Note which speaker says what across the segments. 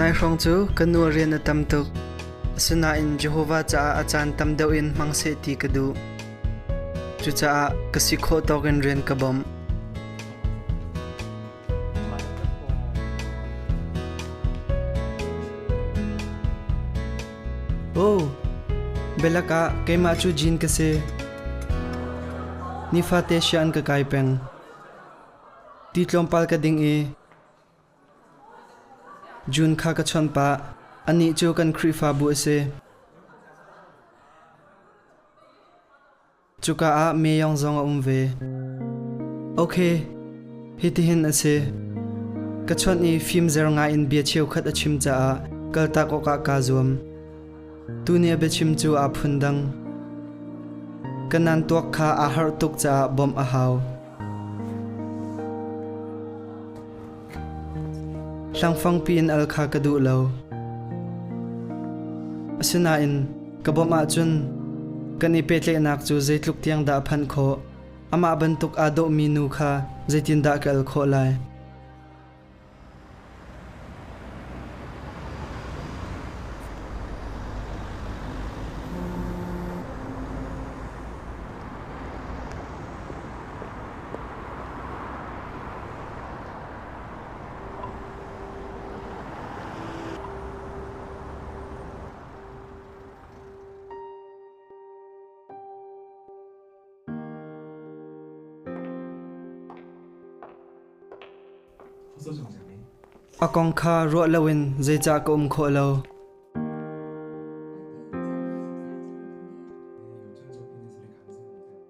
Speaker 1: Nai hrawng cu ka nu rian a tam tuk. Asinain Jehovah caah a caan tam deuh in hmang seh ti ka duh. Cucaah ka si khawh tawk in rian ka bawmh. Aw, belak ah keimah cu jin ka si. Nifate sia an ka kai peng. Ti tlawmpal ka ding i June kha ka chon pah. Anih cu kan Khrihfabu a si. Cuka ah meyong zong a um ve. Ok, hitihin a si. Ka chuan i fim zer ngai in bia cheukhat a chim caah kaltak awkah kaa zuam. Tu nih a biachim cu aa phundang. Ka nan tuak kha aa harh tuk caah bawmh a hau. Hrangfangpi in al kha ka duh lo. Asinain ka bawmh ahcun kan i petlehnak cu zeitluk tiang dah a phanh khawh, amah bantuk aa dawhmi nu kha zeitindah ka al khawh lai? A kong kha ruah loin zeicah ka um khawh lo?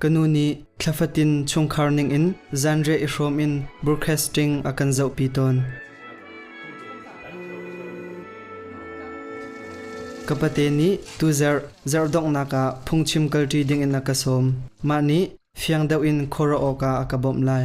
Speaker 1: Ka nu nih thla fatin chungkhar ningin zanriah i hrawm in broadcasting a kan zohpi tawn. Ka pate nih tu zarh zarh donghnak ah phungchim kalṭi dingin a ka sawm. Mah nih fiang deuh in khuaruah awkah a ka bawmh lai.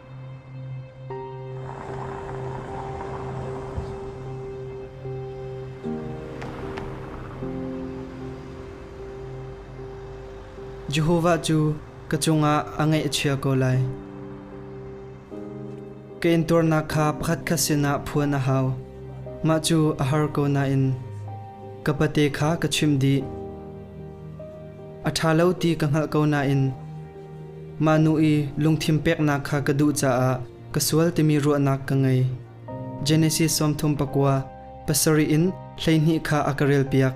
Speaker 1: Jehovah cu ka cungah a ngaih a chia ko lai. Ka intuarnak kha pakhat khat sinah phuan a hau. Mah cu a har ko nain ka pate kha ka chimh dih. A ṭha lo ti ka hngalh ko nain Mah nu i lungthin peknak kha ka duh caah ka sual timi ruahnak ka ngei. Genesis sawmthum pakua pasarih in hleihnih kha a ka relpiak.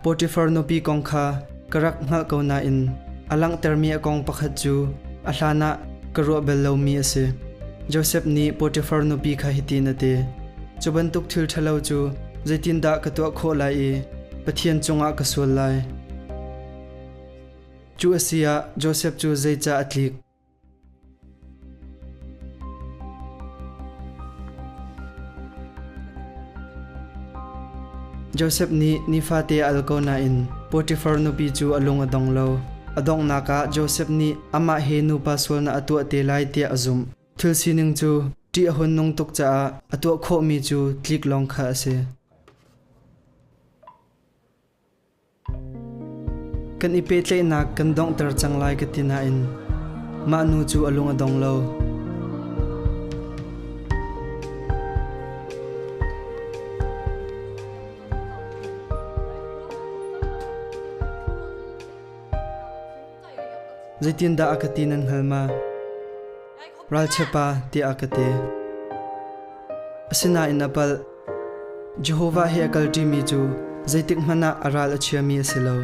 Speaker 1: Potifar nupi kong kha ka rak hngalh ko nain a langhtermi a kong pakhat cu a hlan ah ka ruah bal lomi a si. Josef nih Potifar nupi kha hitin a ti, Cu bantuk thil ṭhalo cu zeitindah ka tuah khawh lai i Pathian cungah ka sual lai? Cu a si ah Josef cu zeicah a tlik? Josef nih nifate a al ko nain Potifar nupi cu a lung a dong lo. A donghnak ah Josef nih amah he nupa sualnak a tuah te lai tiah a zumh. Thil sining cu ṭih a hun nung tuk caah a tuah khawhmi cu tlik lawng kha a si. Kan i pehtlaihnak kan donghter cang lai ka ti nain mah nu cu a lung a dong lo. Zeitindah a ka ti nan hngal ma? Ralchiapa tiah a ka ti. Asinain a palh. Jehovah he a kalṭimi cu zeitikhmanh ah a ral a chiami a si lo.